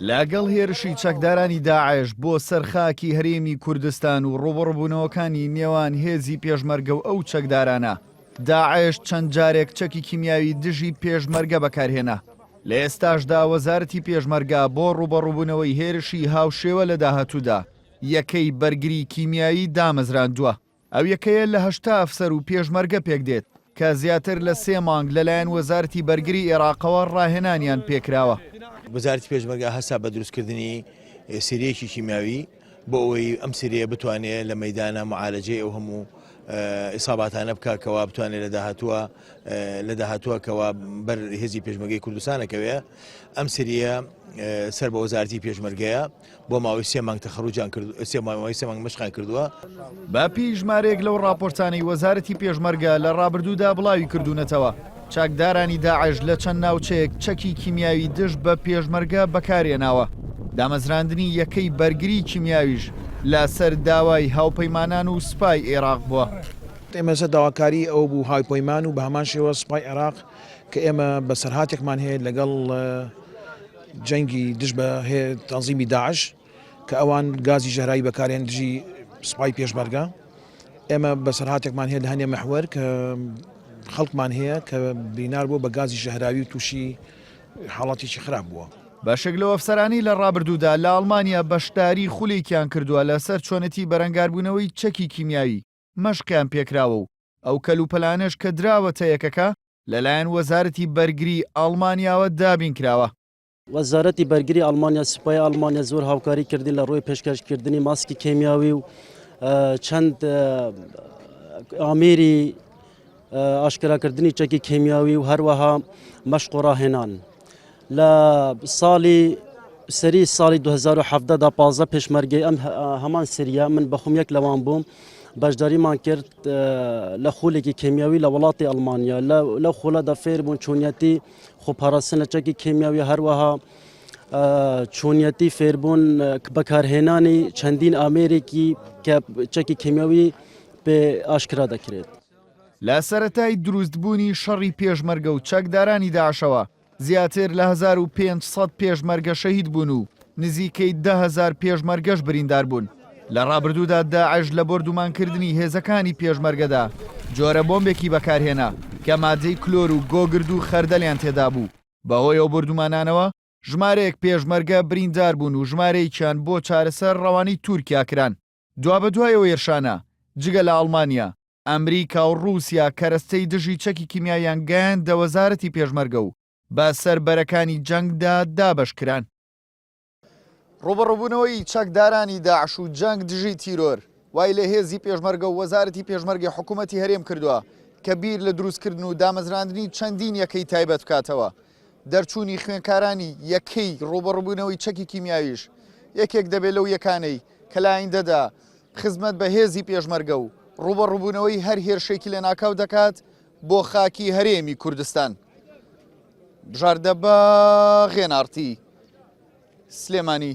لەگەڵ هێرشی چەکدارانی داعش بۆ سەر خاکی هەرێمی کوردستان و ڕوبڕبوونەوەکانی نێوان هێزی پێشمەرگە و ئەو چەکدارانە داعش چەند جارێک چەکی کیمیاوی دژی پێشمەرگە بەکارهێنا لە ئێستاشدا وەزارەتی پێشمەرگا بۆ ڕوبەڕوبوونەوەی هێرشی هاوشێوە لە داهاتوودا یەکەی بەرگری کیمیایی دامەزراندووە ئەو یەکەیە لە هەشتا ئەفسەر و پێشمەرگە پێکدێت، کە زیاتر لە سێ مانگ لەلایەن وەزارەتی بەرگری ئێراقەوە ڕاهێنانیان پێکراوە. وەزارەتی پێشمەرگە هەستا بە دروستکردنی سریەکی کیمیاوی بۆ ئەوەی ئەم سریە بتوانێت لە مەیدانا موعالەجەی ئەو هەموو ئیساباتانە بکات کەوا بتوانێت لە داهاتووە لە داهاتووە کەوا بەر هێزی پێشمەرگەی کوردستانەکەوێت ئەم سریە سەر بە وەزارەتی پێشمەرگەیە. بۆ ماوەی سێ مانگ تەخەروجیان کرد سێ ماوەی سێ مانگ مەشقیان کردووە. بەپێی ژمارەیەک لەو ڕاپۆرتانەی وەزارەتی پێشمەرگە لە ڕابردوودا بڵاوی کردوونەتەوە، چەکدارانی داعش لە چەند ناوچەیەک چەکی کیمیاوی دژ بە پێشمەرگە بەکارهێناوە، دامەزراندنی یەکەی بەرگری کیمیاویش لەسەر داوای هاوپەیمانان و سوپای عێراق بووە. ئێمە لەسەر داواکاری ئەو بوو هاوپەیمان و بە هەمان شێوە سوپای عێراق کە ئێمە بەسەرهاتێکمان هەیە لەگەڵ جەنگی دژ بە تەنزیمی داعش کە ئەوان گازی ژەهراوی بەکارێن دژی سپای پێشمەرگە ئێمە بەسەرهاتێکمان هەیە لە هەنێ مەحوەر کە خەڵکمان هەیە کە بینار بووە بە گازی ژەهراوی و تووشی حاڵاتێکی خراپ بووە. بەشێک لەو ئەفسەرانەی لە ڕابردوودا لە ئەڵمانیا بەشداری خولێکیان کردووە لەسەر چۆنێتی بەرەنگاربوونەوەی چەکی کیمیاوی، مەشقیان پێکراوە و ئەو کەلوپەلانەش کە دراوەتە یەکەکە لەلایەن وەزارەتی بەرگریی ئەڵمانیاوە دابین کراوە. وەزارەتی بەرگریی ئەڵمانیا، سوپای ئەڵمانیا زۆر هاوکاری کردین لە ڕووی پێشکەشکردنی ماسکی کێمیاوی و چەند ئامێری ئاشکراکردنی چەکی کیمیاوی و هەروەها مەشق و ڕاهێنان لە ساڵی سەری ساڵی 2017 دا پازە پێشمەرگەی ئەم هەمان سریە من بەخم یەک لەوان بووم بەشداریمان کرد لە خولێکی کیمیاوی لە وڵاتی ئەلمانیا لە خولەدا فێر بوون چۆنیەتی خۆپاراستن لە چەکی کیمیاوی هەروەها چۆنیەتی فێربوون بەکارهێنانی چەندین ئامێرێکی کە چەکی کیمیاوی پێ ئاشکرا دەکرێت لە سەرەتای دروست بوونی شەڕی پێشمەرگە و چەکدارانی داعشەوە زیاتر لە هەزار و پێنج سەد پێشمەرگە شەهید بوون و نزیکەی دە هەزار پێشمەرگەش بریندار بوون. لە ڕابردوودا داعش لە بۆردومانکردنی هێزەکانی پێشمەرگەدا جۆرە بۆمبێکی بەکارهێنا کە مادەی کلۆر و گۆگرد و خەردەلیان تێدا بوو. بەهۆی ئەو بۆردومانانەوە ژمارەیەک پێشمەرگە بریندار بوون و ژمارەیەکیان بۆ چارەسەر ڕەوانەی تورکیا کران. دوابەدوای ئەو هێرشانە، جگە لە ئەڵمانیا، ئەمریکا و ڕووسیا کەرەستەی دژی چەکی کیمیاییان گەیاندە وەزارەتی پێشمەرگە و بە سەر بەرەکانی جەنگدا دابەش کران. ڕووبەڕووبوونەوەی چەکدارانی داعش و جەنگ دژی تیرۆر، وای لە هێزی پێشمەرگە و وەزارەتی پێشمەرگەی حکوومەتی هەرێم کردووە کە بیر لە درووستکردن و دامەزراندنی چەندین یەکەی تایبەت بکاتەوە، دەرچوونی خوێنکارانی یەکەی ڕووبەڕووبوونەوەی چەکی کیمیاویش یەکێک دەبێت لەو یەکانەی کە لە ئایندەدا خزمەت بە هێزی پێشمەرگە و ڕووبەڕووبوونەوەی هەر هێرشێکی لەناکاو دەکات بۆ خاکی هەرێمی کوردستان. بژاردە بە غێناڕتی سلێمانی.